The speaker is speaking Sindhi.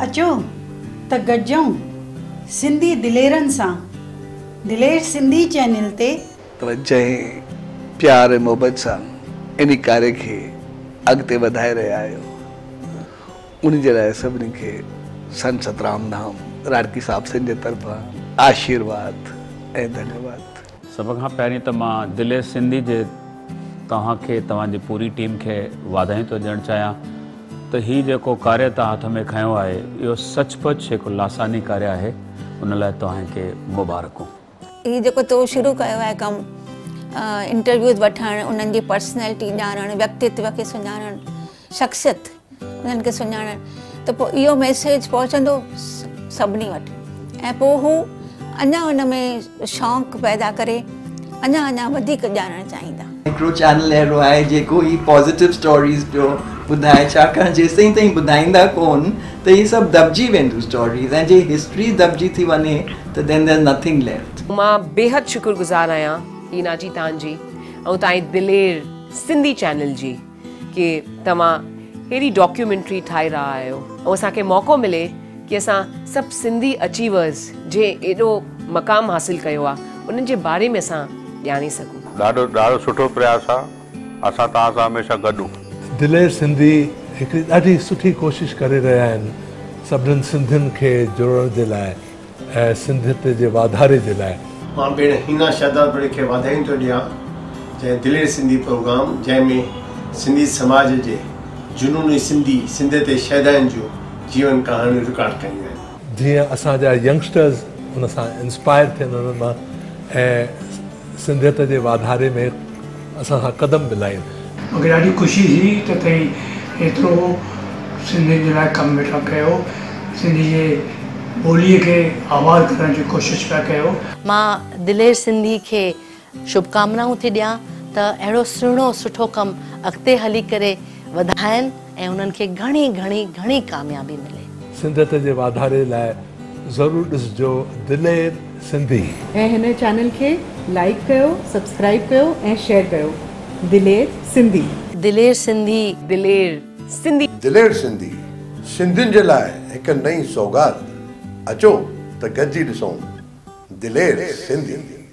اچو ته گڏجون سنڌي دليرن سان دلير سنڌي چينل تي. توهان جنهن پيار ۽ محبت سان ان ڪاري کي اڳتي وڌائي رهيا آهيو. ان جي لاء سڀني کي سنت سترام ڌام راڻڪي صاحب سنڌ جي طرفان آشيرواد ۽ ڌنيواد. سڀ کان پهرين ته مان دل سنڌي جي توهان کي توهان جي پوري ٽيم کي واڌايون ٿو ڏيڻ چاهيان ته هي جيڪو ڪاريه توهان هٿ ۾ کنيو آهي اهو سچ پچ هڪ لاثاني ڪاريه آهي ان لاء توهان کي مبارڪون. هي جيڪو تو شروع ڪيو آهي ڪم انٽرويوز وٺڻ انهن جي پرسنالٽي ڄاڻڻ ويڪتتو کي سڃاڻڻ شخصيت انهن کي سڃاڻڻ ته پوء اهو ميسيج پهچندو سڀني وٽ ۽ پوء هو اڃا ان ۾ شوق پيدا ڪري اڃا اڃا وڌيڪ ڄاڻڻ چاهيندا. هڪڙو چينل اهڙو آهي جيڪو هي پازيٽو اسٽوريز پيو ٻڌائي ڇاڪاڻ جيستائين تائين ٻڌائيندا ڪون ته هي سڀ دٻجي وينديون اسٽوريز ۽ جي هسٽري دٻجي ٿي وڃي ته then there's nothing left. مان بيحد شڪر گذار آهيان هينا جي تان جي ۽ تائين دلير سنڌي چينل جي ڪي توهان هيڙي ڊاڪيومينٽري ٺاهي رها آهيو ۽ اسان کي موقعو ملي ڪي اسان سڀ سنڌي اچيورز جي ايڏو مقام حاصل ڪيو آهي انهن جي باري ۾ اسان ڄاڻي سگهون. ڏاڍو ڏاڍو سٺو پرياس آ اسان توهان سان هميشه گڏ. دلير سنڌي هڪڙي ڏاڍي سٺي ڪوشش ڪري رهيا آهن سڀنن سنڌين کي جوڙڻ جي لاء. ۽ سنڌيت جي واڌاري جي لاء. مان پيڻ حنا شهدادپوري کي واڌايون ٿو ڏيان جنهن دلير سنڌي پروگرام جنهن ۾ سنڌي سماج جي جنوني سنڌي سنڌيت ۽ شهداين جون جيون ڪهاڻيون رڪارڊ ڪيون آهن. جيئن اسان جا ينگسٽرز ان سان انسپائر ٿين انهن مان ۽. سنڌيت جي واڌاري ۾ اسان سان قدم ملائين. مونکي ڏاڍي خوشي ٿي ته توهين ايترو سنڌين جي لاء ڪم ويٺا ڪيو سنڌي جي ٻولي کي آباد ڪرڻ جي ڪوشش پيا ڪيو. مان دلير سنڌي کي شڀڪامنائون ٿي ڏيان ته اهڙو سهڻو سٺو ڪم اڳتي هلي ڪري وڌائين. ۽ انهن کي گهڻي گهڻي گهڻي ڪاميابي ملي. سنڌيت جي واڌاري لاء ضرور ڏسجو دلير سنڌي. ۽ هن چينل کي لائيڪ ڪيو سبسڪرائيب ڪيو ۽ شيئر ڪيو دلير سنڌي. دلير سنڌي. دلير سنڌي. دلير سنڌي سنڌين جي لاء هڪ نئين سوغات اچو ته گڏجي ڏسون دلير سنڌي.